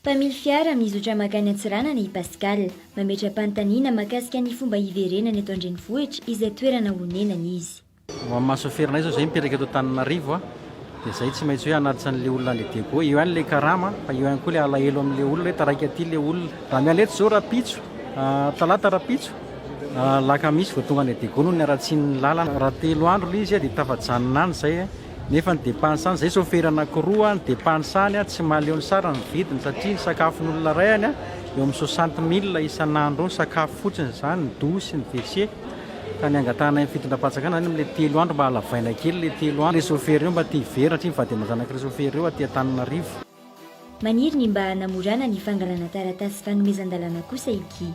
Mpamily fiara mizotra mankany Antsiranana i Pascal. Mametra-panontaniana mahakasika ny fomba hiverenany eto an-drenivohitra izay toerana onenany izy. Ho amin'ny maha chauffeur anay zao zay mipetraka eto Antananarivo a, dia zay tsy maintsy hoe hanatitra an'le olona any Diego, eo ihany le karama fa eo ihany koa le alahelo amin'le olona hoe taraiky aty le olona. Raha miala eto zao rapitso, talata rapitso, alakamisy vao tonga any Diego noho ny haratsian'ny lalana, raha telo andro le izy dia tafajanona any zay nefa ny depansany, zay chauffeur anakiroa ny depansany a, tsy mahaleo ny sarany ny vidiny satria ny sakafon'olona ray any a, eo amin'ny soixante mille isan'andro eo ny sakafo fotsiny zany, ny douche, ny wc. ka ny angatahana ny fitondram-panjakana zany amin'ilay telo andro mba halavaina kely ilay telo andro, chauffeur io mba te hiverina hatry ny vady aman-janak'ireo chauffeur ireo aty Antananarivo. Maniry ny mba hanamorana ny fangalana taratasy fanomezan-dalàna kosa i Guy.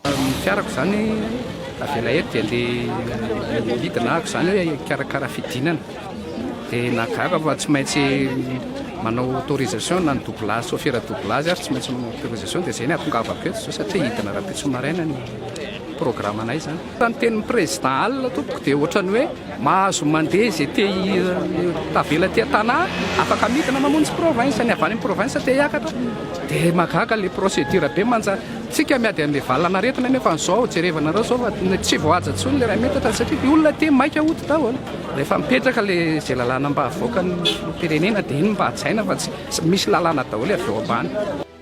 Ny fiarako izany avela eto dia andeha midina aho izany hoe hikarakara fidinana dia nahagaga fa tsy maintsy manao autorisation na ny doublage chauffeur doublage ary tsy maintsy manao autorisation dia izay no ahatongavako eto izao satria hidina rahampitso maraina ny programme anay zany. Raha ny tenin'ny président Alina tompoko dia ohatran'ny hoe mahazo mandeha izay te tavela aty an-tanà, afaka midina mamonjy province, ny avy any amin'ny province te hiakatra dia mahagaga ilay procédure be manja, tsika miady an'ilay valan'aretina nefa an'izao jerevanareo izao fa tsy voahaja intsony ilay iray metatra satria ny olona aty maika hody daholo, rehefa mipetraka ilay izay lalàna mba havoakan'ny filoham-pirenena dia iny mba hajaina fa tsy misy lalàna daholo avy ao ambany.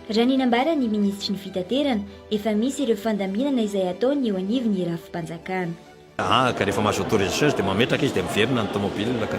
Raha ny nambaran'ny minisitry ny fitaterana, efa misy ireo fandaminana izay ataony eo anivon'ny rafi-panjakana. Aa ka rehefa mahazo autorisation izy dia mametraka izy dia miverina ny tomobilina ka.